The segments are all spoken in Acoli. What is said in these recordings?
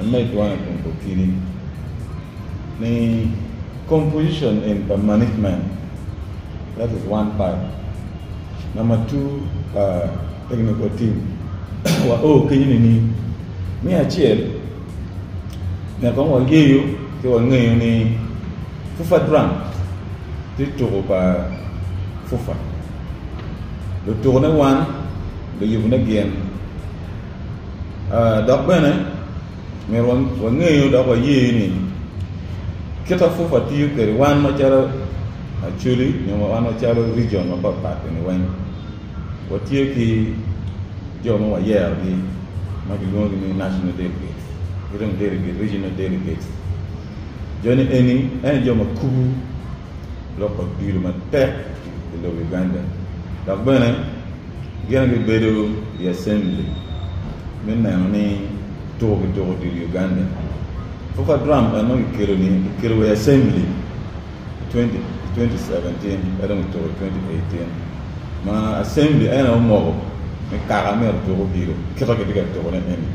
amed wano tung pa kidi ni composition in pa management that is one part number two pa technical team wa o kenyo nining me acel nek kong wa yeyo ci wa ngeyo ni fufa drum ti tuku pa fufa lutuku ne wan luyubu ne gin Dok bene, myero wangeyo dok waye ni kit ma pwopwa tiyo kwede wan macalo Acholi nyo wan macalo rijion mapatpat-ni weng, watye ki jo ma wayerogi ma kilwongogi ni national delegates ki dong regional delegates. Joni eni ene jo ma kubu. lok odilo matek i lobo Uganda dok bene gin gibedo i Acembli me neno ni tuko ki tuko odilo i Uganda. Foka Drum en dong kikelo ni kikelo wa i Acembli i 2017 ento dong kituko i 2018 ma Acembli en aye omoko ni kaka myero otuk odilo kit ma kitye ka tuko ne eni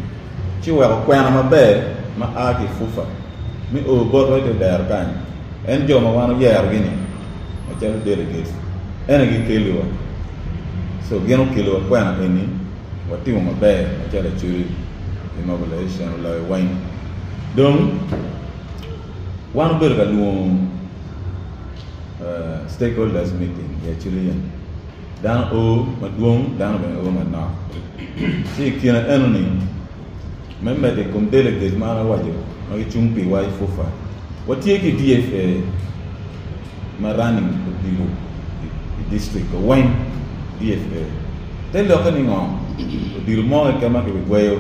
ci weko kwena maber ma a ki Fufa me oo botwa ite dero kany. En jo ma wan oyerogi-ni, macalo delegates, en aye gikeliwa. So, gin okeliwa kwena eni, watimo maber macalo Acholi ki Mobilization oloyo weng. Dong, wan obedo ka lwongo Stakeholders Meeting i Acholi yam. Dano oo madwong, dano bene oo manok. Ci i kine enoni, me medo i kom delegate ma an awaco ma gicung piwa i FUFA, watye ki DFA ma running odilo i district wa weng. DFA te lokke ni ngo? Odilo mo keken ma kibigweyo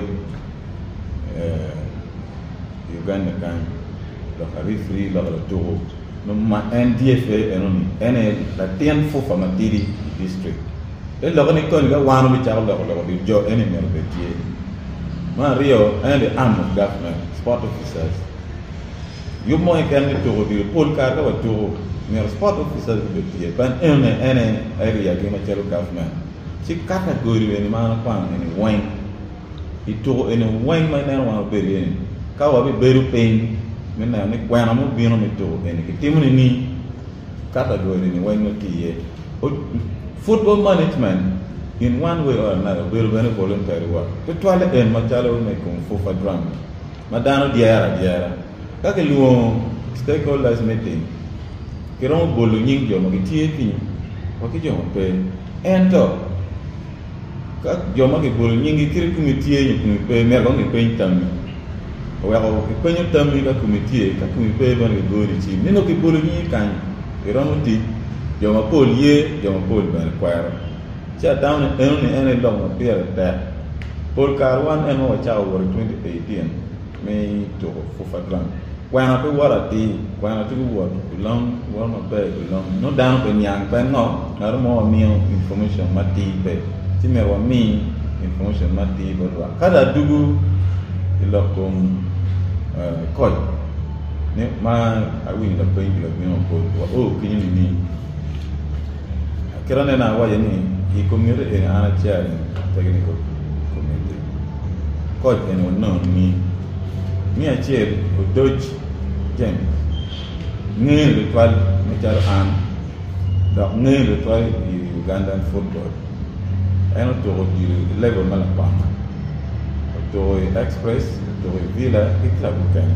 i Uganda kany, lok a referee, lok a latuko. ma en tye pe enoni en aye latin fufa matidi i district. Te lokke ni koni ka wan obicako loko lok di jo eni myero obed tye. Me aryo en the arm of government, sport officers. Yub mo keken me tuko odilo pol kare ka watuko myero sport officers gubed tye pien enoni en aye area gi macalo government. Ci kata goli eni ma an akwano eni weng. i tuko eni weng ma ineno wa mabedo iye ni ka wabibedo piny me neno ni kwena mubino me tuko eni kitimo nining kato adwogi eni weng nongo tye iye football management in one way or another obedo bene voluntary work tutwalle en macalo me kom fufa drama ma dano dyere adyera ka kilwongo stakeholders meeting kiromo bolo nying jo ma gitye kenyo wa ki jo ma pe ento Ka jo ma kibolo nyinggi kit i kumi tye nyo kumi pe, myero dong gipeny tammi. Oweko kipenyo tammi ka kumi tye, ka kumi pe bene gigoyo licim ni nongo kibolo nyingi kany. Iromo tic, jo mapol ye, jo mapol bene kwero. Ci atamo ni enoni en aye lok ma pire tek. Pol kare wan en ma wacako wot i 2018. me tuko fufa drum kwena pe wot atir kwena tuku wot long wot maber i long no dano pe niang pe ngo ngato mo wamiyo information matir pe ci myero wami information matir bot lwak kadi adugu i lok kom koc ma awinyo lapeny ki lagwino mapol wa o kinyo nining Kit aneno awace ni i komiti eni an acel pe gin i komiti koc eni wanongi ni acel odoc James nge tutwal macalo an dok nge tutwal i Ugandan futbol en otuko odilo i level me lakwena otuko i Express otuko i Villa ki club mukene.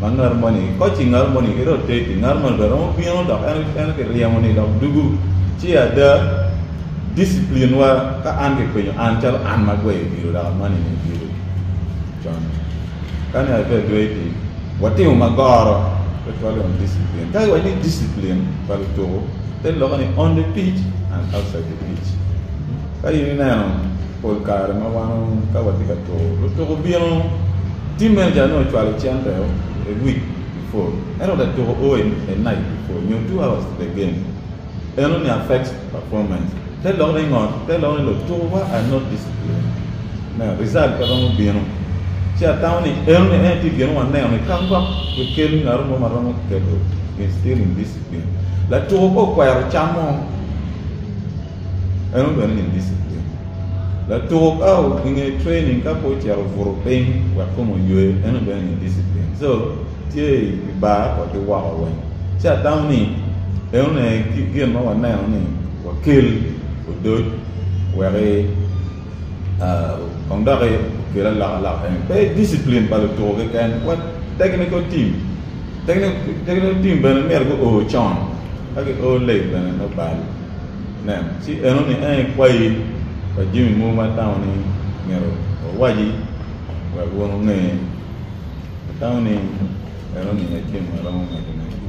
ma ngat moni kocci ngat moni kite otegi ngat moni bene romo bino dok en en kiryemo ni dok dugu ci ada discipline wa ka an kipenyo an calo an ma gweyo odilo dok amani ni odilo con kani abe adwe itim watimo ma goro pe twali on discipline ka iwac ni discipline pa lutuku te lokke ni on the pitch and outside the pitch ka in ineno Pol kare ma wan ka watye ka tur, lutuko obino, team manager ni ocwalo cente o a week before, en ot atuko o a night before nyo two hours to the game, eno ni affects performance, te lok ni ngot, te lok ni lutuko wa are not disciplined, me result pe romo bino, ci atamo ni eno ni en tye gin waneno ni ka gwok kikel ngat mo ma romo keto instill indiscipline, latuko pe okwero cam mo. En obene nyen diciplin. Latuko bao i nge training ka pe ocito obuto piny wek kome oywe en obene nyen diciplin. So tye i bar wa ki woko weng. Ci atamo ni enone gin ma waneno ni wakel odoc weki kong doki okel alokaloka eni. Pe diciplin pa lutuko keken wa technical team, technical team bene myero guo con ka gio late bene me bal. Nen, ci enoni en ikwayi pa jami mogo ma atamo ni myero wawaci wek wun wunge. Atamo ni enoni e gin ma aromo medone.